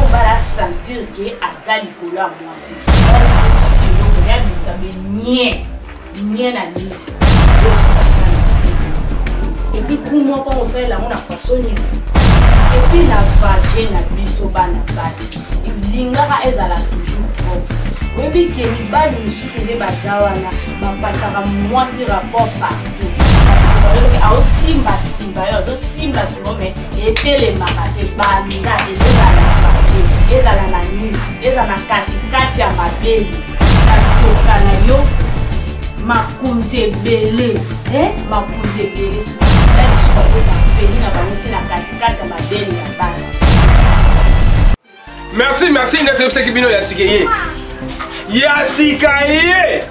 obala sentir ke aza likolo ya mwasi ya bimisa be nie nie na nisi epi ku moko kosalela yango na faso nini epi na vage na biso bana basi lingaka ezala toujours propre oyebi ke mibali mosusu nde baza wana bapasaka mwasi rapport partout aosimbasimba yo azosimbasimba me etelemaka te banda ezala na baje ezala na nice ezala na katikati ya mabele na soka na yo makonzi ebele eh, makonzi ebele soki peni na bango ti na katikati ya mabele ya basi merci merci nde toyebisaki bino ya sika ye ya sika ye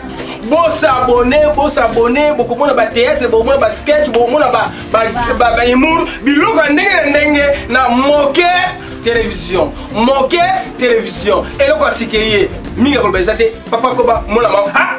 bosabone bosabone bokomona bateatre bokomona basketch bokomona bahumour biloko ya ndenge na ndenge na moke télévision moke télévision eloko ya sika ye mingi akoloba eza te papa koba mona mama ah!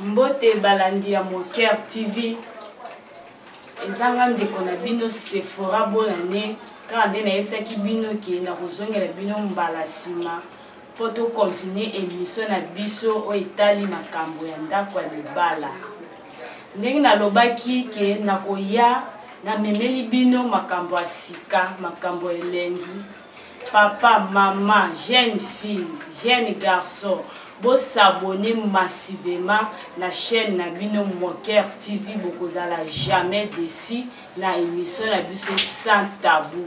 mbote balandi ya moker tv eza nga ndeko na bino sephora bonane kaka nde nayebisaki bino ke nakozongela bino mbala nsima mpo tokontinue emission na biso oyo etali makambo ya ndako ya libala ndenge nalobaki ke nakoya namemeli bino makambo ya sika makambo ya elengi papa mama jeune fille jeune garçon bosabone massivement na chaîne na bino moker tv bokozala jamais desi na émission na biso sans tabou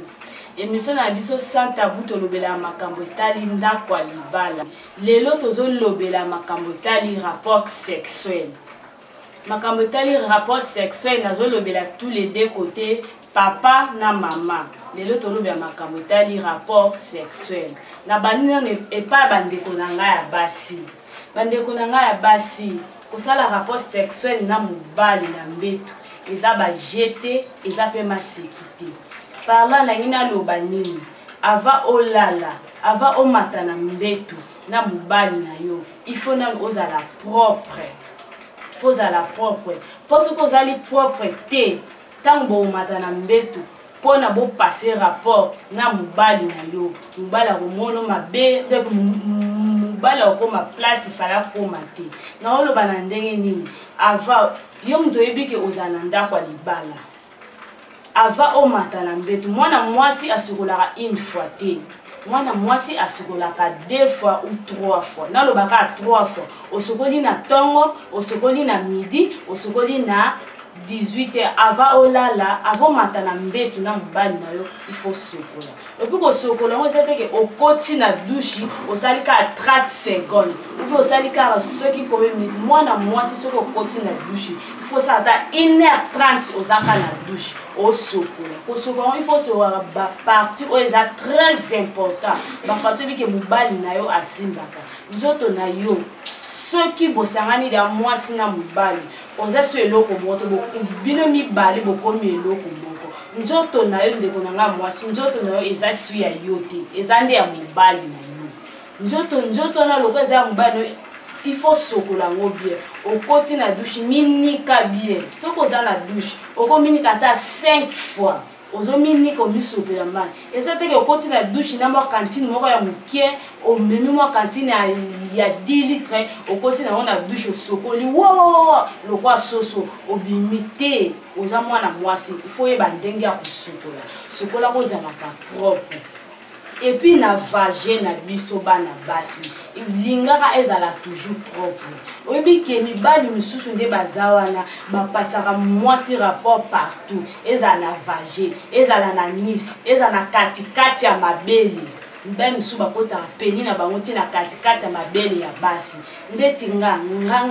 émission na biso sans tabou tolobelaka makambo etali ndako ya libala lelo tozolobela makambo etali rapport sexuel makambo etali rapport sexuel nazolobela tous les deux côté papa na mama lelo tolobela makambo etali rapport sexuel na bandi nano epai bandeko na ngai ya basi bandeko na ngai ya basi kosala rapport sexuel na mobali na mbeto eza bajete eza mpe maseki te parla nangi naloba nini ava olala ava omata na mbeto na mobali na yo il faut nanu ozala propre fo ozala propre mpo soki ozali propre te ntango bokomata na mbetu mpo na bopase rapport na mobali na yo mobali akomono mabe donc mobali akokoma place ifale akoma te naoloba na ndenge nini avant yo moto oyebi ke ozala na ndako ya libala avant omata na mbetu mwana mwasi asukolaka une fois te mwana mwasi asukolaka deux fois ou trois fois nalobaka trois fois osukoli na ntongo osukoli na midi osukoli na 18 heures avant olala avant omata na mbetu na mobali na yo il faut sukola epuis kosokola yango eza teke okoti na dushi osali kaka 30 seconde ubi osali kaka soki komi minute mwana mwasi soki okoti na dushi ifosala ata 1 heure 30 oza kaka na dushi osokola kosokola yango ifo osokaka baparti oyo eza très important baparti obike mobali na yo asimbaka nzoto na yo soki bosangani ya mwasi na mobali oza so eloko moko te bino mibale bokomi eloko moko nzoto na yo ndeko na ngai mwasi nzoto na yo eza su ya yo te eza nde ya mobali na yo nzoto nzoto wana lokola eza ya mobali na yo il faut sokola yango bien okoti na dushe minika bien soki oza na dushe okominika ata 5 fois ozominika omisopela mai eza teke okoti na dushe na mwa kantine moko ya moke omemi mwa kantine ya 10 litre okoti nango na dushe osokoli wawawawa lokwa soso obimi te oza mwana mwasi ifo oyeba ndenge ya kosukola sukola kozalaka propre epuis na vage na biso bana basi lingaka ezala toujours propre oyebi ke mibali mosusu nde baza wana bapasaka mwasi rapport partout ezala na vage ezala na nice ezala na katikati ya mabele mibali mosusu bakotaka peni na bango ntina katikati ya mabele ya basi ndeti nga nga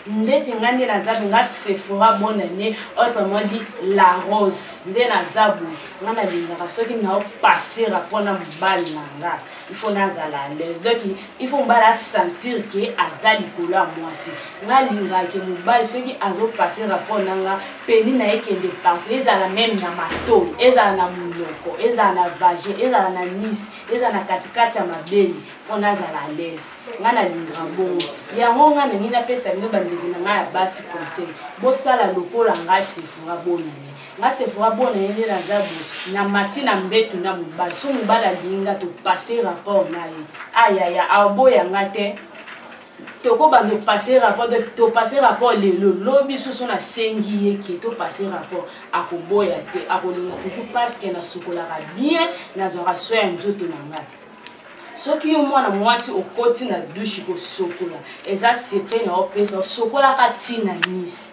ndeti nga nde naza boye nga sephora bonne année autrement dit la rose nde naza boye nga nalingaka soki naopasera mpo na mobali na nga il faut nazala alaise donc il faut mobali asentir ke aza likolo ya mwasi nalingaka ke mobali soki azopasera mpo na nga peni na ye kende partout ezala meme na matoi ezala na monoko ezala na vage ezala na nisi ezala na katikati ya mabele mpo nazala alaise ngai nalingaka bongo yango ngai nangi napesa bino bandeko na ngai ya basi conseil bosala lokola ngai sefora bonani ngai sefora bonani nde naza bo na mati na mbetu na mobali so mobali alingi ngai topase rapport na ye ayaya aboya ngai te tokobanda opase rapport topase rapport lelo lobi susu nasengi ye ke topase rapport akoboya te akolinga toujours parceke nasukolaka bien nazwaka soin ya nzoto na ngai soki yo mwana mwasi okoti na dushe kosokola eza secret na opesa osokolaka ntina nisi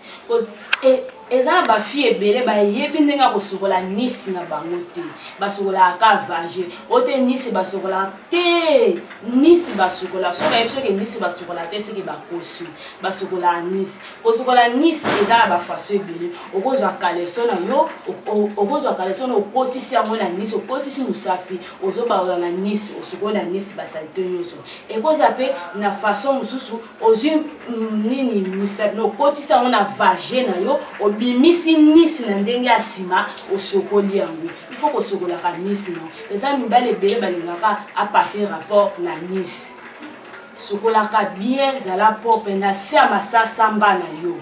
e, eza na bafille ebele bayebi ndenge ya kosokola nisi na bango te basokolaka ka vage ote nisi basokolaka te nisi basokola soki bayebi soki nisi basokola te soki bakosi basokolaka nisi kosokola nisi eza na bafaso ebele okozwa kaleso na yo okozwa kaleso na okotisi yango na nisi okotisi mosapi ozobaola na nisi osukoli na nisi basalite nyonso ekozala mpe na façon mosusu ozwi mm, nini misapi okotisi yango na vage na yo obimisi nisi na ndenge ya nsima osokoli yango ifo kosokolaka nisi no eza mibale ebele balingaka apasse rapport na nisi sokolaka bien zala propre na se ya masasamba na yo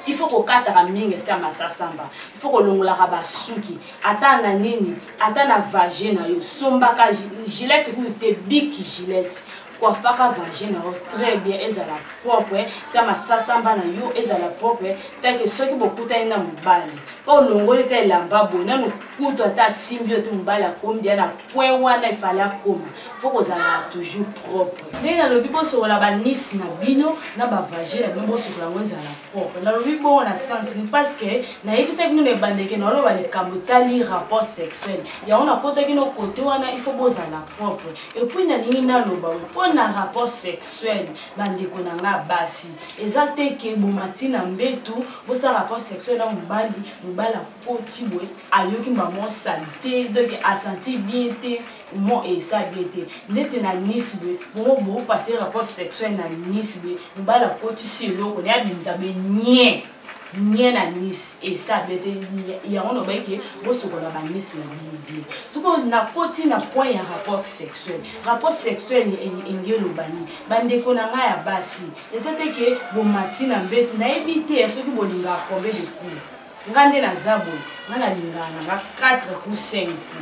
il faut kokataka mingi esi ya masasamba il faut kolongolaka basuki ata na nini ata na vagin na yo sombaka gilete kutu te big gilete coiffaka vagin na yo très bien ezala propre sia masasamba na yo ezala propre take soki bokutani na mobali mpo olongoli ka elamba boye nanu kutu ata asimbi yo te mobali akomi deya na point wana efale akoma fo kozalaka toujours propre ndenge nalobi bosokola banisi na bino na bavagin na bino bosokola yango ezala Oh, nalobi bongo na sens ni parce que nayebisaki bino na ebandeke naloba likambo etali rapport sexuel yango nakotaki no kote wana il faut bozala propre epuis nalingi naloba mpo na rapport sexuel bandeko na ngai basi eza te ke bomati na mbetu bosala rapport sexuel na mobali mobali akoti boye ayoki mamo salite donc asanti bien te mo esa bie te ndeti na nice be bongo bopase rapport sexuel na nice be mobali akotisi eloko naye abimisa be nie nie na nice esa bie te yango nobaki ke bosokola banice na bino bie soko nakoti na point ya rapport sexuel rapport sexuel enge eloba nini bandeko na ngai ya basi eza te ke bomati na mbeti nayebi te soki bolingaka combien de cours nga nde naza boye nga nalingaka nanga 4 ku 5 ku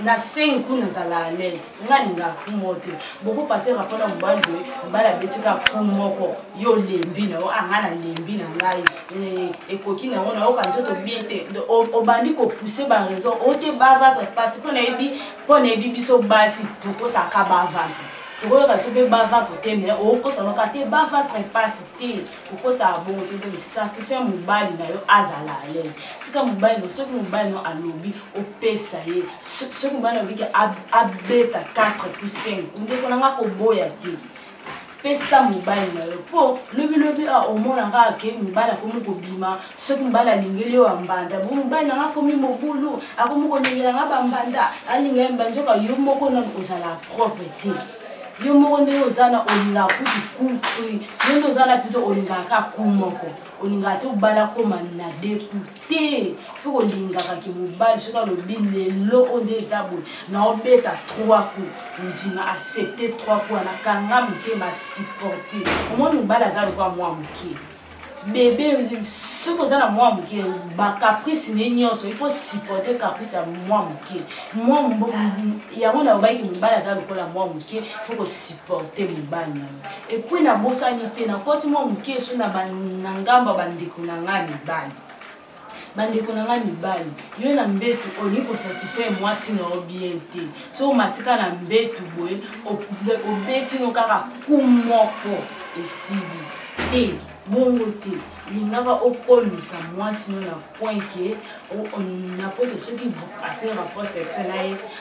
na 5 ku nazala alaise nga nalingaka ku moko te boko pase rapport na mobali boye mobali abeti kaka ku moko yo olembi na yo anga ah, nalembi na ngai eh, ekoki na yango nayoka nzoto bien te obandi kopousse baraison o te bavatre mpasi mpo nayebi mpo nayebi biso basi tokosaka bavatre tokoyoka biso mpe bavatre te me okosanaka te bavatre mpasi te okosala bongo te donc certifie mobali na yo azala à l'aise tika mobali no soki mobali no alobi opesa ye soki mobali alobi ke abeta 4 puis 5 ndeko na nga koboya te pesa mobali na yo mpo lobilobi a omona kaka ke mobali akomi kobima soki mobali alingeli yo bambanda bo mobali na nga akomi mobulu akomi kolingela nga bambanda alingela mbanzoka yo moko nano ozala propre te yo moko ndenge oza na olingaka kutu kutu yo nde oza na pito olingaka ka ku moko olingaka te obala koma na deku te fo kolingaka ke mobali soki alobi lelo oyo nde eza boye naobeta trois ku ndima accepte trois ku wana kanga motema supporte omoni mobali aza lokola mwa moke bebe soki oza na mwa moke bacaprice ne nyonso il faut supporte caprice ya mwa moke yango nayobaki mobali aza lokola mwa moke faut kosupporte mobali na yo epuis nabosani te nakoti mwa moke so na ngamba bandeko na ngai mibali bandeko na ngai mibali yo na mbetu olingi kosatisfaire mwasi na yo bien te so omatika na mbetu boye obetino kaka ku moko esili te bongo te lingaka okomisa mwasi no na point ke na point ke soki bokase rapport sexuel na ye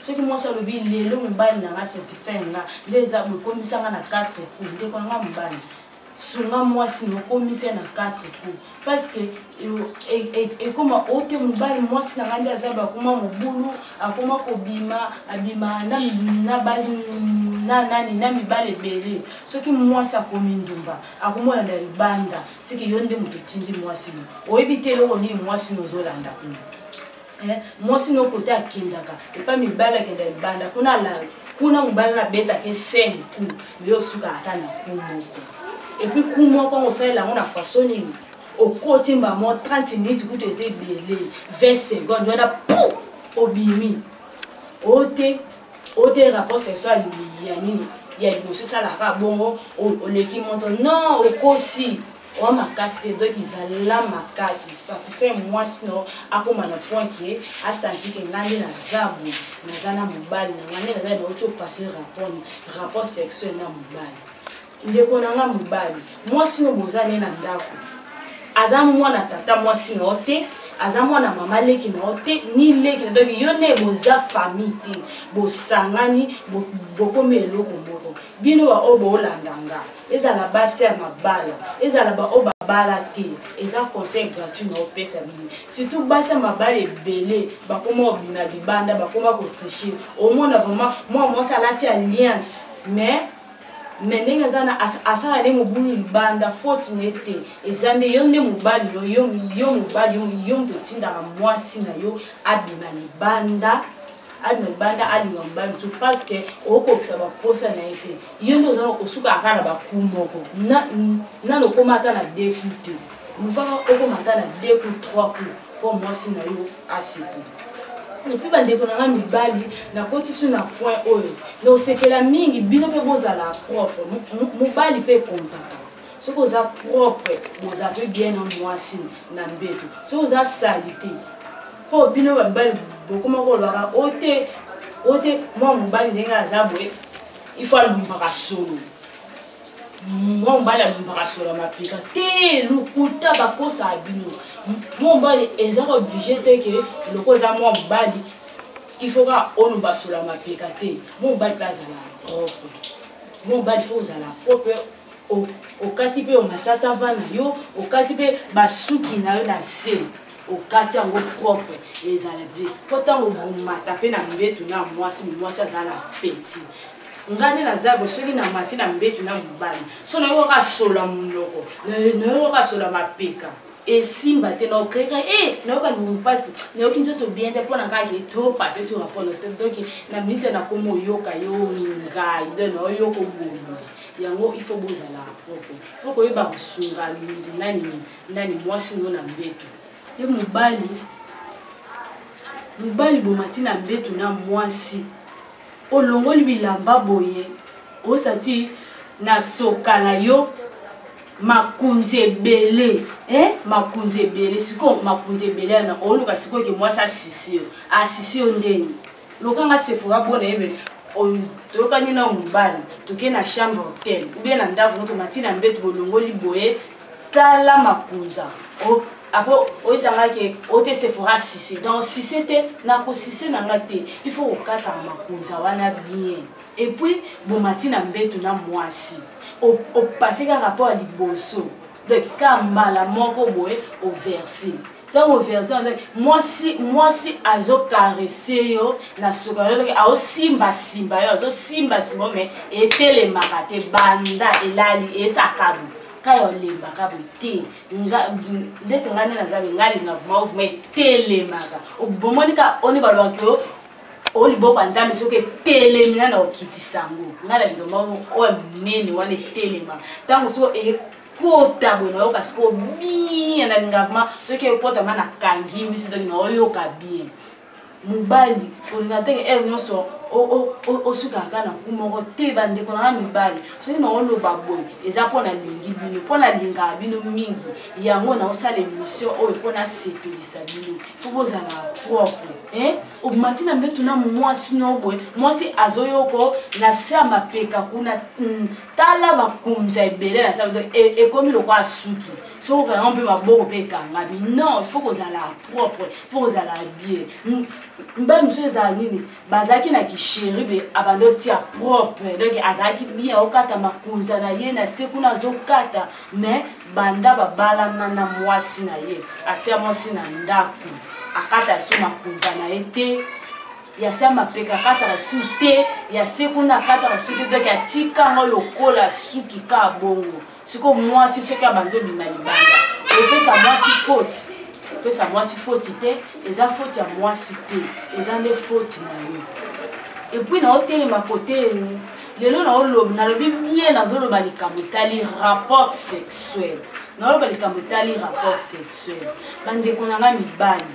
soki mwasi alobi lelo mobali na nga certifie nga nde eza bokomisa nga na 4 coup ndeko nanga mobali sunga mwasi nokomisa na 4 coup parce que ekoma e, e, ote mobali mwasi na nga nde aza bakoma mobulu akoma kobima abima na nani na mibali ebele soki mwasi akomi ndumba akomona na libanda seke yo nde moto otindi mwasi no oyebi te eloko nini mwasi no ozolanda kuna eh, mwasi no kote akendaka epa mibali akenda libanda kuna alala kuna mobali nabetaka eseni ku yo osukaka ata na ku moko epuis ku moko yango osalela yango na faso nini okoti mbamo 30 minutes kutu eza ebele 20 seconde wana pu obimi ote ote rapport sexual ya nini ya liboso esalaka bongo oleki moto non okosi oa makasi te donc ezala makasi satisfait mwasi no akoma na point ke asanti ke ngai nde naza boye naza na mobali na ngai nde naza nauti opasse rapport rapport sexuel na mobali ndeko na ngai mobali mwasi no boza ne na ndako aza mwana tata mwasi na yo te aza mwana mama leki na yo te ni leki na donc yo nde boza famille te bosangani bokomi eloko moko bino baoyo boolanda nga ezala basi ya mabala ezala baoyo babala te eza conseil gratuit na opesa bino surtout basi ya mabala ebele bakoma obina libanda bakoma kotriche omona vraiment mwa mwasi alati alliance mais me ndenge eza na asala nde mobulu libanda foti na ye te eza nde yo nde mobali yo yo mobali yo moto otindaka mwasi na yo abima libanda alima libanda alima mobali mosusu parce que okokisa baposa na ye te yo nde oza osuka aka na baku moko nano okoma ata na deux coup te lubaka okoma ata na deux coup trois coup mpo mwasi na yo aseki epuis bandeko na nga mibali nakotisi na point oyo nosepela mingi bino mpe bozala propre mobali mpe ekompaka soki oza propre boza mpe bien na mwasi na mbeto soki oza salite mpo bino babali bokoma kolobaka o te o te mwa mobali ndenge aza boye ifo alumbaka solo mwa mobali alumbaka solo ya mapeka te lokuta bakosaka bino mwa mobali eza oblige te ke loko eza mwa mobali ifo kaka oluba solo ya mapeka te mwa mobali mpe azalaka propre mwa mobali fo kozala propre okati mpe omasata bana yo okati mpe basuki na yo na se okati yango propre ezala bien mpo ntango bomata mpe na mbetu na mwasi mwasi azala na peti ngai nde naza bo soki na mati na mbetu na mobali so nayoki kaka sola monoko nayoki kaka sola mapeka esimba te na okeka e eh, nayoka libumu mpasi nayoki nzoto bien te mpo na ngai ke to passe sur apono te donki na minute nakomi oyoka yo ngai de naoyoka obomi yango il faut bozala propre po koyeba kosunga mingi nani nani mwasi no na mbeto ye mobali mobali bomati na mbeto na mwasi olongoli bilamba boye osati na soka na yo makunzi ebele eh? makunzi ebele sikoyo makunzi ebele yana oluka sikoyo ke mwasi asisi yo asisi yo ndenge loka nga sephora bona yebe toyokani na mobali toke na chambre hotel oubien na ndako no tomati na mbeto bolongoli boye tala makunza apres oyezanga ke ote sephora sise donc sise te nakosise na nga te il faut kokataka makunza wana bien epuis bomati na mbeto na mwasi opase ka rapport ya liboso donc ka mbala moko boye overse ntango verse wana mwasi mwasi azokarese yo na suka yotoki aosimbasimba yo azosimbasimba yo me etelemaka te banda elali esaka boye kaya olembaka boye te ndeti ngai nde naza boye ngai alinga vrima vrima etelemaka bomoni ka oni balobaki yo o liboko ya nzambe soki etelemi nana okitisa yango ngai na liloba oyo monene wana etelema ntango soki kota boye nayoka sikoyo bien na lingavema soki ekotama na kangi miso ntoki naoyoka bien mobali kolinga ntenge ere eh, nyonso osukaka kaka na ku moko te bandeko na nga mibali soki naoloba boye eza mpo nalingi bino mpo nalingaka bino mingi yango naosala émission oyo mpo nasepelisa bino fo bozalaka propre eh? obimati na mbetu na mwasi no boye mwasi azoyoko na se ya mapeka kuna hmm. tala bakonzi ya ebele na sala e, ekomi lokola suki soki okanga mpe maboko mpe ekangami non fo kozala propre fo kozala bie mbali mosusu ezala nini bazalaki na kisheribe abandi otia propre donc azalaki bie okata makonza na ye na se kuna azokata mais banda babalana na mwasi na ye atia mwasi na ndako akata so makonza na ye te ya se mapeka akataka su te ya se kuna akataka su te donk atika yango lokola suki ka bongo sikoyo mwasi soki abandi obima libanda opesa mwasi foti opesa mwasi foti te eza foti ya mwasi te eza nde foti na yo epuis naotelema kote lelo naolobi nalobi mie nazoloba likambo etali rapport sexuel naoloba likambo etali rapport sexuel bandeko na ngai mibali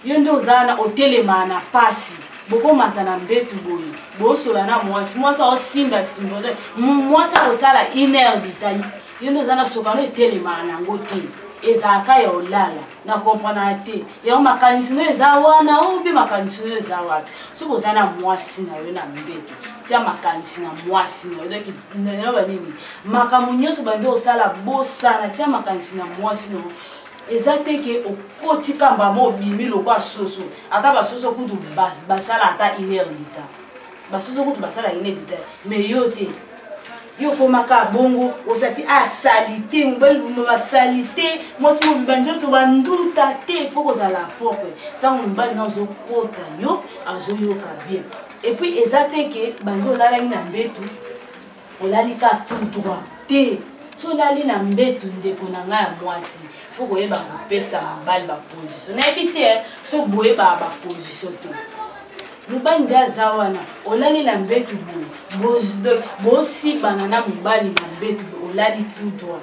yo nde oza na otelema na pasi bokomata na mbetu boye bosola na mwasi mwasi aosimba simbo mwasi akosala une heure detail yo nde oza na sokano etelemaka nango te ezalaka ya olala na komprenaka te yango makanisi no eza wana o mpe makanisi no eza wapi soki oza na mwasi na yo na mbetu tia makanisi na mwasi na yo donk nayoba nini makambo nyonso bandi osala bosana tia makanisi na mwasi na yo eza te ke okoti kamba mo obimi lokwa soso ata basoso kutu basala ata une heure du temps basoso kutu basala une du temps mais yo te yo okomaka bongo osati a ah, salite mobali boma basalite mwasi mobimba nzoto banduta te ifo kozala propre ntango mobali na azokota yo azoyoka bien epuis eza te ke bandi olalaki na mbetu olali ka tout droit te so olali na mbetu ndeko na ngai ya mwasi fo koyeba kopesa mobali baposition nayebi te eh, so boyebaka baposition te mobali nde aza wana olali na mbetu boye bosimbana na mobali na mbetu olali tout droit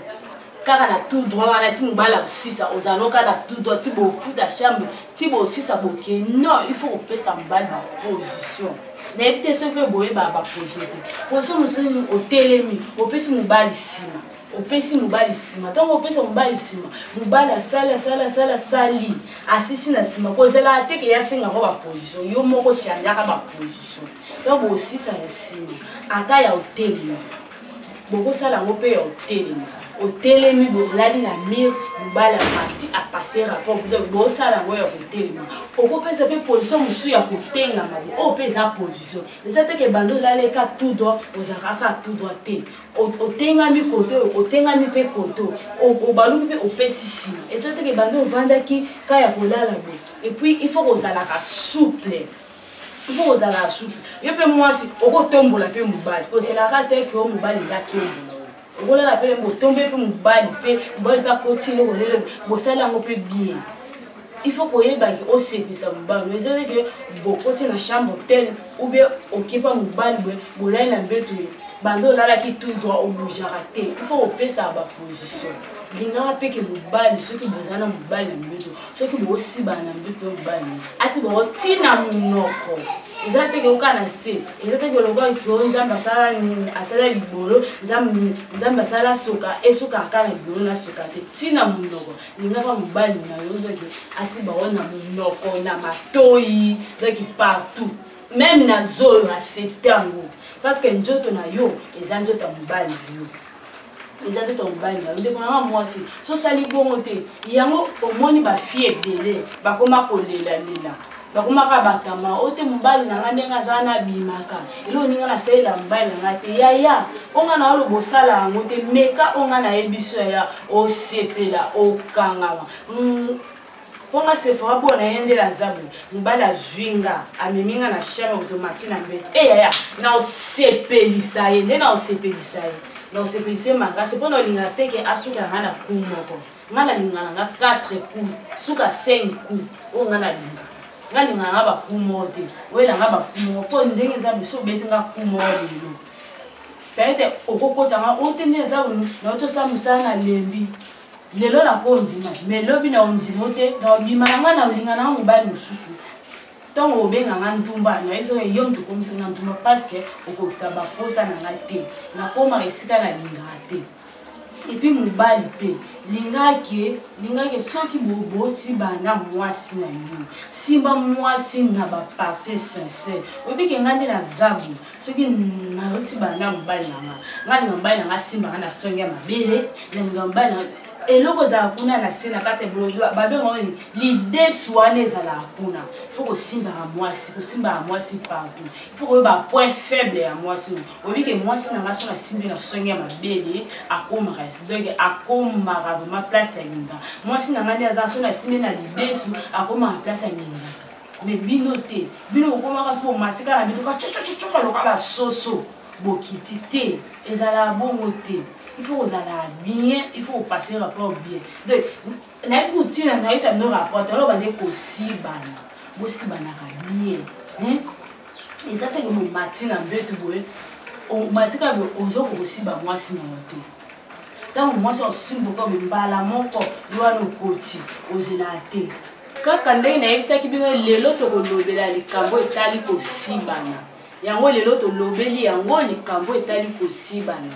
kaka na tout droit wana ti mobali asisa ozalo kaka na tout droit ti bofuta chambre ti bosisa boke non il faut kopesa mobali baposition nayebi te soki mpe boyebaka baposition te position mosusu otelemi opesi mobali nsima opesi mobali nsima ntango opesa mobali nsima mobali asali asali asali asali asisi na nsima kozela teke ye asengaka baposition yo moko changeaka baposition ntango bosisa ya nsima ata ya otelemi bokosala yango mpe ya otelemi otelemi bolali na mire mobali amati apase rapport donc bosala yango ya kotelema okopesa mpe position mosusu ya kotengama oyo mpe eza position eza teke bando olaleka tout droit ozalaka kaka tout droit te otengami koto otengami mpe koto obaluki mpe opesi nsima eza teke bando ovandaki ka ya kolala boye epuis il faut kozalaka souple mpo ozala suki yo mpe mwasi okotombola mpe mobali ozelaka te ke o mobali yakembo okolala mpe botombe mpe mobali mpe mobali mpe akoti eloko lelo bosali yango mpe bien il faut koyebaki osepisa mobali eza ndeke bokoti na chambre hotel ou bien okepa mobali boye bolali na mbeto ye banda olalaki tout droit obougeaka te il faut kopesaka baposition lingaka mpe ke mobali soki boza na mobali na mbeto soki bosibana na mbeto mobali asi boko ntina monoko eza te keyoka na se eza te keloka kio nzambe asala nini asala libolo nzambe asala soka esuka aka na libolo na soka te ntina monoko lingaka mobali na yo doki asi bao na monoko na matoi doki partout meme na zolo asepte yango parce que nzoto na yo eza nzoto ya mobali na yo eza nde tokobali na yo ndeko nanga mwasi sosali bongo te yango omoni bafie ebele bakoma kolelalela nakomaka batama oyo te mobali na ngai ndenge azala na abimaka eloko ndenge nasalela mobali na ngai te yaya oyo ngai nayo loba osala yango te meka oyo ngai nayebi so yaya osepela okangama mm, mpo nga sefora bo na ye nde lazabu mobali azwi nga amemi nga na chambre moto mati na mbete e eh, yaya na osepelisa ye nde na osepelisa ye na osepelisa ye makasi mpo na olinga te ke asukela nga na ku moko nga nalinga na nga 4 coup suka 5 coup oyo nga nalinga nga linga na nga baku moko te oyela nga baku moko mpo ndenge eza biso obeti nga ku moko lelo peut-être okokosa nga oyo te nde eza na yo tosala mosala na lembi lelo nakondima me lobi na ondimo te na obima na ngai na olinga na ngai mobali mosusu ntango obenga ngai ntumba naye soki yo moto okomisi ngai ntumba parceke okokisa baposa na ngai te nakomaka esika nalingaka te epuis mobali mpe lingaki lingaki soki bobosi bana mwasi na yo simba mwasi na bapartie sincere oyebi ke ngai nde na zabu soki nasimbana na mobali na nga nga linga mobali na nga asimbaka na songe ya mabele na linga mobali na eloko ezala kuna na se na kati babengao lide swana ezalaka kuna fo kosimbaka mwasi kosimbaka mwasi partout fo koyeba point faible ya mwasi no oyebi ke mwasi na ngai so nasimbi na songe ya mabele akomaka donc akomaka vraimen place ya linga mwasi na ngai nde aza so nasimbi na lidesu akomaka place ya linga me bino te bino bokomaka soki bomatika na bituka cocococoka loka basoso bokiti te ezalaka bongo te il faut kozala bien il faut kopasser rapport bien donc nayebi kotina nayesa bino rapport talo bande kosibana bosibanaka bien eza teke momati na mbetu boye omatika boye oza kokosiba mwasi na yo te ntango mwasi osimboka boye mbala moko yo wana okoti ozelaka te kaka ndenge nayebisaki bino lelo tokolobela likambo etali kosibana yango lelo tolobeli yango likambo etali kosibana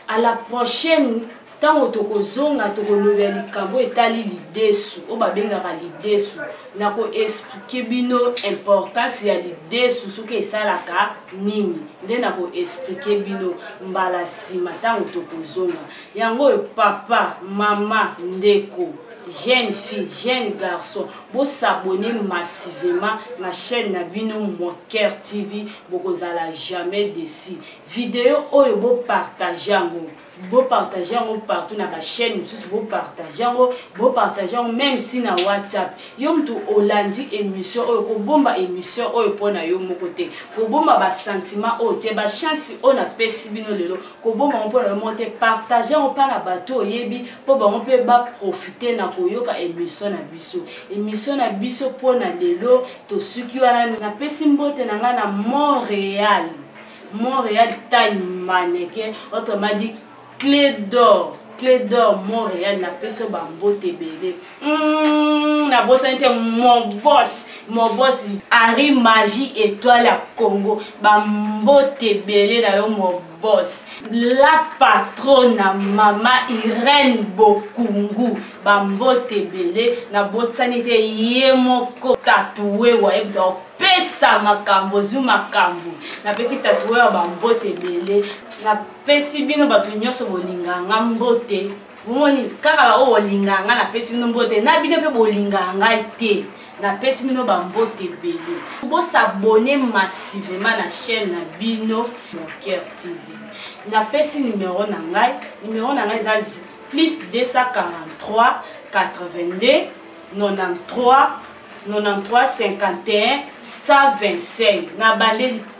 a la prochaine ntango tokozonga tokolobela likambo etali lidesu oyo babengaka lidesu na koexplike bino importance ya lidesu soki esalaka nini nde na koexplike bino mbala nsima ntango tokozonga yango oyo papa mama ndeko jeune fille jeune garçon bosabone massivement na chaîne na bino moker tv bokozala jamais desi video oyo bopartage yango bopartage yango partout na bachaîne mosusu bopartage yango bopartage yango même si na whatsapp yo motu olandi émission oyo kobomba émission oyo mpo na yo moko te kobomba basentiment oyo te bachance oyo napesi bino lelo koboma yango mpo na yo moko te partage yango mpa na bato oyebi mpo bango mpe baprofite na koyoka emission na biso emission na biso mpo na lelo tosuki wana napesi mbote na ngai na montréal montréal time maneke autrement dit clé d'or cle d'or montréal napesi yo bambote ebele hmm, nabosani te mobos mobos henri magie étoile ya congo bambote ebele na yo mobos la patrona mama irene bokungu bambote ebele nabosani te ye moko tatue wayebi topesa makambo ozwi makambo napesi tatue ya bambote ebele pesi bino bato nyonso bolingaka nga mbote bomoni kaka baoyo bolingaka nga napesi bino mbote na bino mpe bolingaka ngai te napesi bino bambote ebele bosabone massivema na chaîne na bino moncaire tv napesi numero na ngai numero na ngai eza plus 243 82 93 93 51 125 nabandeli